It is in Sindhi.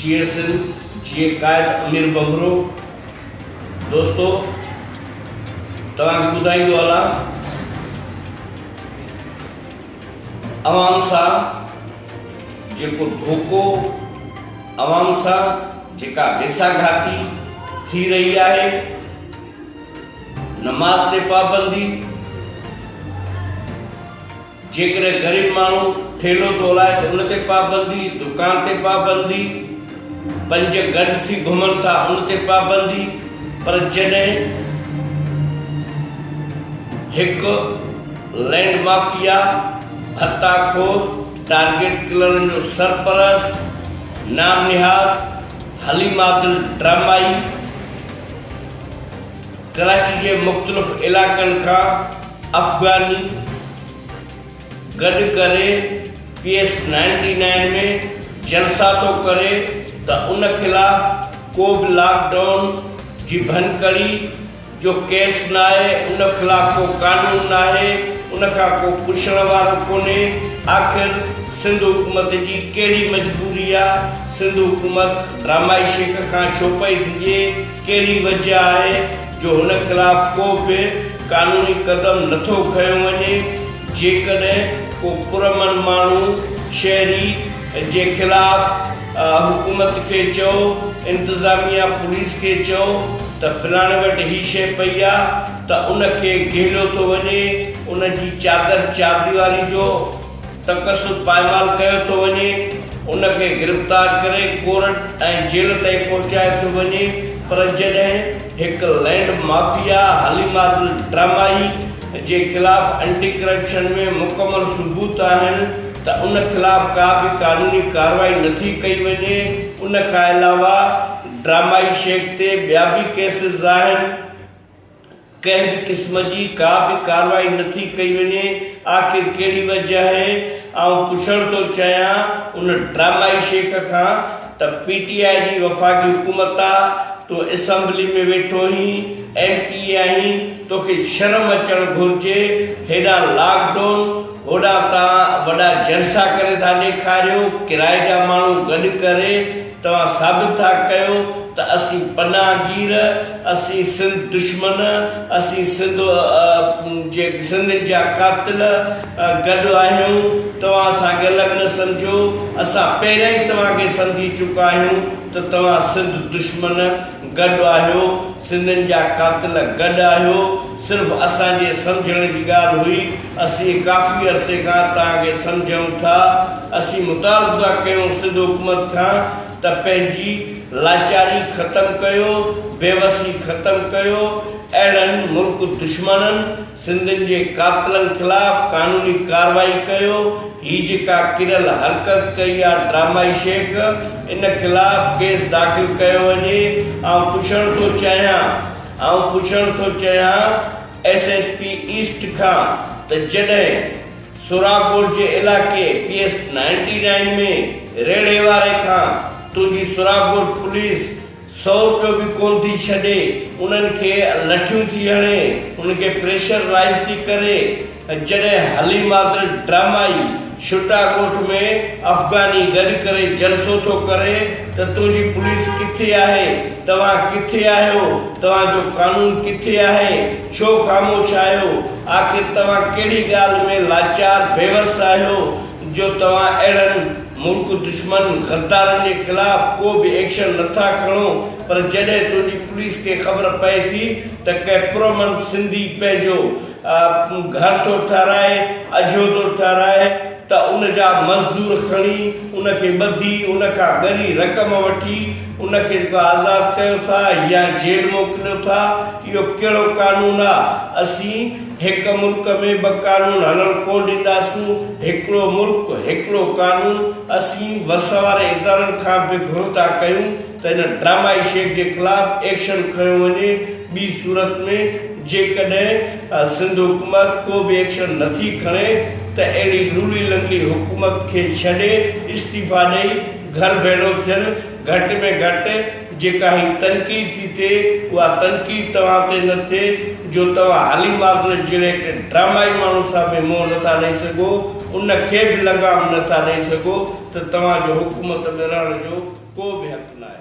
جئي سنڌ جئي قائد امير ٻنڀرو دوستو توهان کي ٻڌائيندو هلان عوام سان جيڪو ڌوڪو عوام سان جيڪا ويسا گهاتي ٿي رهي آهي نماز تي پابندي جيڪڏهن غريب ماڻهو ٺيلهو ٿو هلائي ته ان تي پابندي، دڪان تي پابندي، پنج گڏ ٿي گهمن ٿا ان تي پابندي پر جڏهن هڪ لينڊ مافيا، ڀتا خور، ٽارگيٽ ڪلرن جو سرپرست، نام نهاد حليم عادل ڊرامائي، ڪراچي جي مختلف علائقن کان افغاني گڏ ڪري پي ايس نائنٽي نائن ۾ جلسا ٿو ڪري ته ان خلاف ڪو به لاڪ ڊائون جي ڀڃڪڙي جو ڪيس ناهي ان خلاف ڪو قانون ناهي ان کان ڪو پڇڻ وارو ڪونهي آخر سنڌ حڪومت جي ڪهڙي مجبوري آ سنڌ حڪومت ڊرامائي شيخ کان ڇو پئي ڊڄي. ڪهڙي وجهه آهي جو هن خلاف ڪو به قانوني قدم نٿو کنيو وڃي؟ جيڪڏهن ڪو پرامن ماڻهو، شهري، جي خلاف حڪومت کي چئو، انتظاميا پوليس کي چئو ته فلاڻي وٽ هي شيء پئي آ ته ان کي گهليو ٿو وڃي، ان جي چادر چارديواري جو. تقصد پائمال ڪيو ٿو وڃي، ان کي گرفتار ڪري ڪورٽ ۽ جيل تائين پهچايو ٿو وڃي پر جڏهن هڪ لينڊ مافيا حليما دل ڊرامائي جي خلاف اينٽي ڪرپشن ۾ مڪمل ثبوت آهن ته ان خلاف ڪا به قانوني ڪارروائي نٿي ڪئي وڃي ان کان علاوه ڊرامائي شيخ تي ٻيا به ڪيسز آهن. ڪنهن به قسم جي ڪا به ڪارروائي نٿي ڪئي وڃي، آخر ڪهڙي وجه آهي؟ آئون پڇڻ ٿو چاهيان ان ڊرامائي شيخ کان ته پي ٽي آء جي وفاقي حڪومت آ، تون اسمبلي ۾ ويٺو آهين، ايم پي اي آهين، توکي شرم اچڻ گهرجي، هيڏانهن لاڪ ڊون، هوڏانهن توهان وڏا جلسا ڪري ٿا ڏيکاريو، ڪرائي جا ماڻهو گڏ ڪري، توهان ثابت ٿا ڪيو ته اسين پناهگير، اسين سنڌ دشمن، اسين سنڌ جي سنڌين جا قاتل گڏ آهيون، توهان اسان کي الڳ نه سمجهو، اسان پهريان ئي توهان کي سمجهي چڪا آهيون ته توهان سنڌ دشمن گڏ آهيو، سنڌين جا قاتل گڏ آهيو صرف اسان جي سمجهڻ جي ڳالهه هئي اسين ڪافي عرصي کان توهان کي سمجهون ٿا اسين مطالبو ٿا ڪيون سنڌ حڪومت کان ته پنهنجي لاچاري ختم ڪيو بيوسي ختم ڪيو اهڙن ملڪ دشمنن سنڌين جي قاتلن خلاف قانوني ڪارروائي ڪيو هي جيڪا ڪريل حرڪت ڪئي آ ڊرامائي شيخ ان خلاف ڪيس داخل ڪيو وڃي آئون پڇڻ ٿو چاهيان آئون پڇڻ ٿو چاهيان ايس ايس پي ايسٽ کان ته جڏهن سوراپور جي علائقي پي ايس نائنٽي نائين ۾ ريڙهي واري کان تنهنجي سوراپور پوليس سئوٽ به ڪونه ٿي ڇڏي، انهن کي لٺيون ٿي هڻي، انهن کي پريشر رائيز ٿي ڪري ۽ جڏهن هلي مادر ڊرامائي شٽا ڳوٺ ۾ افغاني گڏ ڪري جلسو ٿو ڪري ته تنهنجي پوليس ڪٿي آهي، توهان ڪٿي آهيو، توهان جو قانون ڪٿي آهي، ڇو خاموش آهيو، آخر توهان ڪهڙي ڳالهه ۾ لاچار بيوس آهيو جو توهان اهڙن ملڪ دشمن غدارن جي خلاف ڪو به ايڪشن نه ٿا کڻو پر جڏهن تنهنجي پوليس کي خبر پئي ٿي ته ڪنهن پرامن سنڌي پنهنجو گهر ٿو ٺهرائي اجهو ٿو ٺهرائي ته ان جا مزدور کڻي ان کي ٻڌي ان کان ڳري رقم وٺي ان کي جيڪو آزاد ڪيو ٿا يا جيل موڪليو ٿا اهو ڪهڙو قانون آ اسين هڪ ملڪ ۾ ٻه قانون هلڻ ڪونه ڏينداسون، هڪڙو ملڪ، هڪڙو قانون، اسين وس واري ادارن کان به گهرون ٿا ڪيون ته ان ڊرامائي شيخ جي خلاف ايڪشن کنيو وڃي، ٻي صورت ۾ جيڪڏهن سنڌ حڪومت ڪو به ايڪشن نٿي کڻي ته اهڙي لولي لنگڙي حڪومت کي ڇڏي استعيفا ڏئي گهر ڀيڙو ٿيل گهٽ ۾ گهٽ جيڪا هي تنقيد ٿي ٿئي اها تنقيد توهان تي نه ٿئي جو توهان هالي مارگلس جهڙيڪ ڊرامائي ماڻهو سان به منهن نه ٿا ڏئي سگهو ان کي به لغام نه ٿا ڏئي سگهو ته توهان جو حڪومت ۾ رهڻ جو ڪو به حق ناهي.